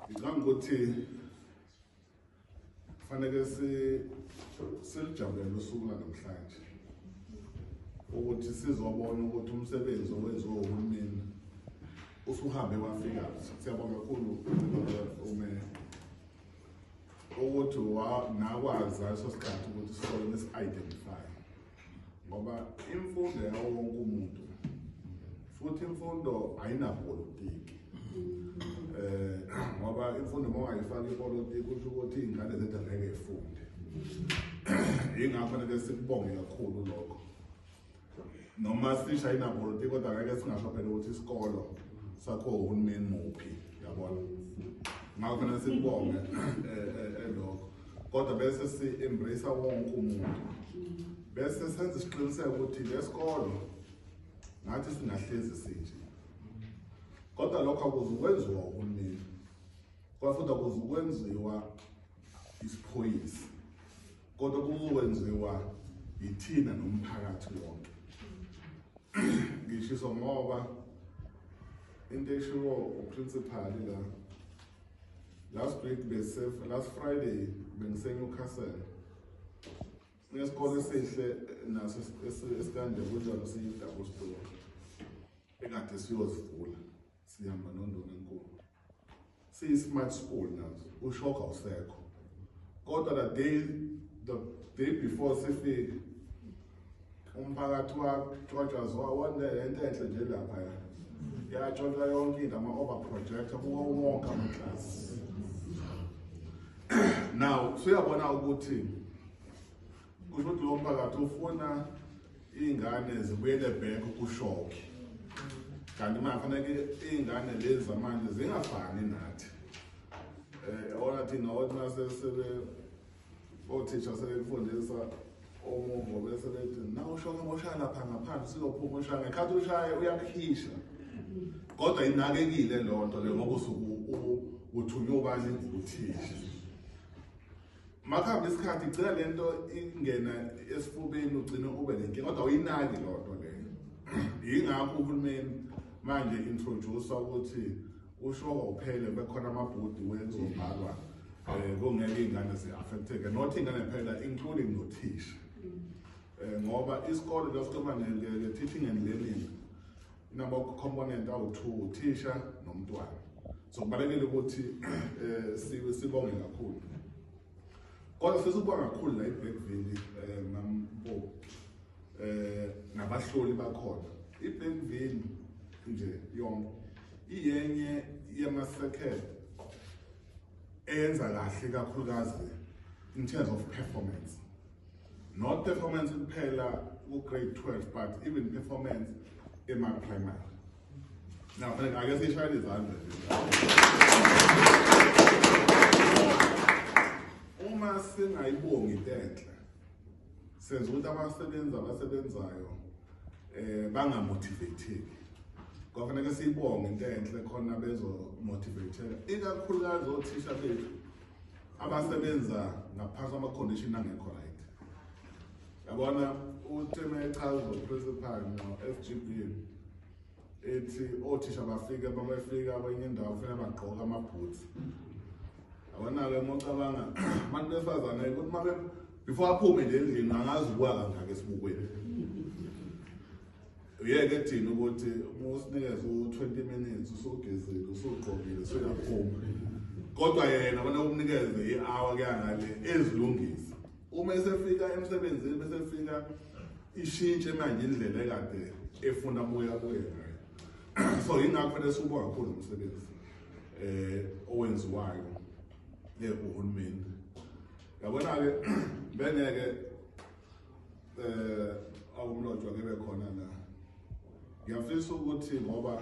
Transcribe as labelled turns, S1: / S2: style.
S1: Ngicabanga ukuthi kufanele silijabulele usuku lanamhlanje ukuthi sizobona ukuthi umsebenzi owenziwe uhulumeni usuhambe wafika siyabonga kakhulu umeya ukuthi nakwazi leso sikhathi ukuthi sisole nesi-identify ngoba imfundo yawo wonke umuntu futhi imfundo ayinapolitiki eh ngoba imfundo uma ungayifaki ipolitiki kusho ukuthi iy'ngane zethu angeke ifunde yingakho nake sikubonge kakhulu lokho noma sisha inapolitiki kodwa ngeke singasho phela ukuthi isikolo sakho uhulumeni muphi yabona ngakho nasikubonge um eh, eh, eh, lokho kodwa bese si-embrace wonke umuntu bese senza isiqiniseko ukuthi lesikolo ngathi singahlezi sinje kodwa lokho akuzukwenziwa uhulumeni kodwa futhi akuzukwenziwa isiphoyisi kodwa kuzokwenziwa yithina nomphakathi wonke ngishiso ngoba into eshiwo uprincipali la Last week bese last Friday bengise Newcastle. Ngesikole esihle naso esikanje kunjalo siyi double store. Ekade siyozivula sihamba nondona enkulu. Siyi smart school nazo ushoka usekho. Kodwa the day the day before sifike umphakathi watshotshwa ziwa wonke le nto enhle nje lapha ya yatshotshwa yonke into ama-over projector kuwo wonke amaklasi now suyabona ukuthi kusho ukuthi lo mphakathi ufuna iy'ngane zibuyele bhek kushoke kanti manje faneke iy'ngane lezi zamanje zingafani nathi um eh, ona thina othi masesebe othisha sebekufundisa omungo bese bethi na ushoke moshaya lapha ngaphandle sizophuma ushaya ngekhathi ushaye uyakuhisha kodwa inakekile loo nto le ngoba uthunywe ubani nguthisha makuhambe isikhathi igcina le nto ingena esifubeni ugcine ube nenkinga kodwa uyinaki loo nto leyo yingakho uhulumeni manje introduce ukuthi Ushoka uphele bekhona amabhudi wezobhalwa um kungeke iy'ngane zi-affecteke not iy'ngane phela including nothisha um ngoba isikole lesikhuluma nge-teaching and learning inama-component awu-two uthisha nomntwana so kubalulekile ukuthi um sibonge kakhulu kodwa sesikuba kakhulu la iblackville um eh, nampo eh nabahloli bakhona ibenvini nje yonke iyenye yema circle eyenza kahle kakhulukazi in terms of performance not performance kuphela ku grade 12 but even performance ema primary now fanele ake sishayele izandla uma singayibongi intethe senza ukuthi abasebenzi abasebenzayo eh bangamotivateki kwafanele siyibonge into enhle khona bezomotivateka ikakhulukazi othisha bethu abasebenza ngaphansi kwamacondition angekho right yabona utheme echaza principal no-fgb ethi othisha bafike babefika kwenye indawo funa bagqoke amabhutsi awona-ke uma ucabanga abantu besifazane ukuthi uma before aphume nje endlini angazi ukuwa kangaki esibukweni uyeke thina ukuthi uma usinikeze u-twenty minutes usugezile usugqokile usuyaphuma kodwa yena bona umnikeze i-hour kuyangale ezilungisa Uma esefika emsebenzini bese efika ishintshe manje indlela ekade efuna buya kuye ngayo. So yingakho lesubo kakhulu umsebenzi eh owenziwayo eh uhulumeni. Yabona ke bengeke eh awumlotshwa kebe khona la. Ngiyafisa ukuthi ngoba